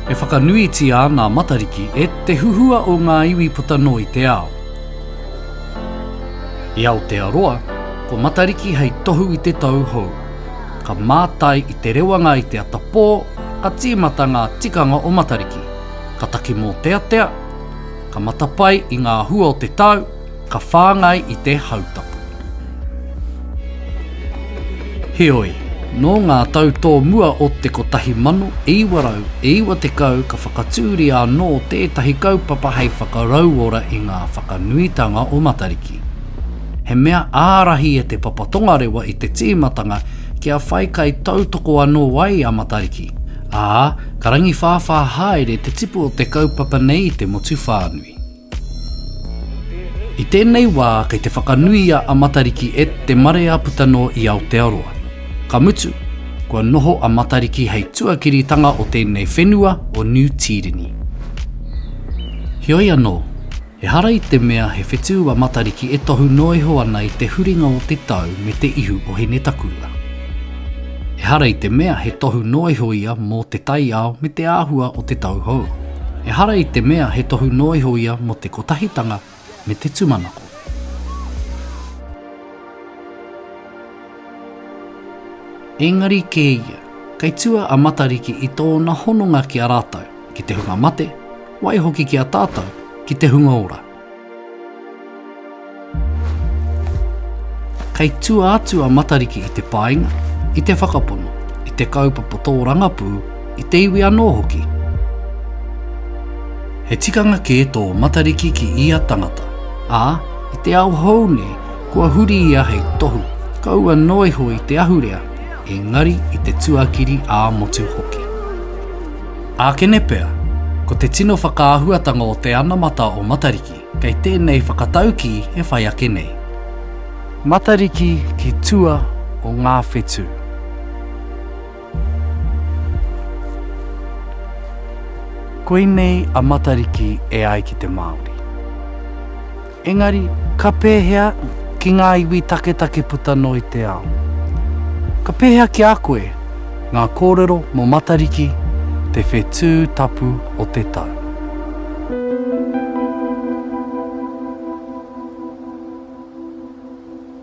E whakanuitia ana a Matariki e te huhua o ngā iwi puta noa i te ao. I Aotearoa, ko Matariki hei tohu i te tau hou. Ka mātai i te rewanga i te ata pō, ka tīmata ngā tikanga o Matariki. ka taki mōteatea, ka matapae i ngā hua o te tau, ka whāngai i te hautapu. Heoi, nō ngā tau tōmua o te 1990 ka whakatūria anō tētahi kaupapa hei whakarauora i ngā whakanuitanga o Matariki. He mea ārahi e Te Papa Tongarewa i te tīmatanga kia whai kaitautoko anō ai a Matariki, Ā, ka rangiwhāwhā haere te tipu o te kaupapa nei i te motu whānui. I tēnei wā kei te whakanuia a Matariki e te marea puta noa i Aotearoa. Ka mutu, kua noho a Matariki hei tuakiritanga o tēnei whenua o Niu Tīreni. Heoi anō, Ehara i te mea he whetū a Matariki e tohu noa iho ana i te huringa o te tau me te ihu o Hinetakura. Ehara i te mea he tohu noa iho ia mō te taiao me te āhua o te tau hou. Ehara i te mea he tohu noa iho ia mō te kotahitanga me te tūmanako. Engari kē ia, kei tua a Matariki i tōna hononga ki a rātou. ki te hunga mate, waihoki ki a tātou, ki te hunga ora. Kei tua atu a Matariki i te paenga, i te whakapono, i te kaupapa tōrangapū, i te iwi anō hoki. He tikanga kē tō Matariki ki ia tangata, ā, i te ao hou nei, kua huri ia hei tohu, kaua noa iho i te ahurea, engari i te tuakiri ā-motu hoki. Ākene pea, ko te tino whakaahuatanga o te anamata o Matariki kei tēnei whakataukī e whai ake nei. Matariki ki tua o ngā whetū. Koinei a Matariki e ai ki te Māori. Engari, ka pēhea ki ngā iwi taketake puta noa i te ao? Ka pēhea ki a koe ngā kōrero mō Matariki te whetū tapu o te tau?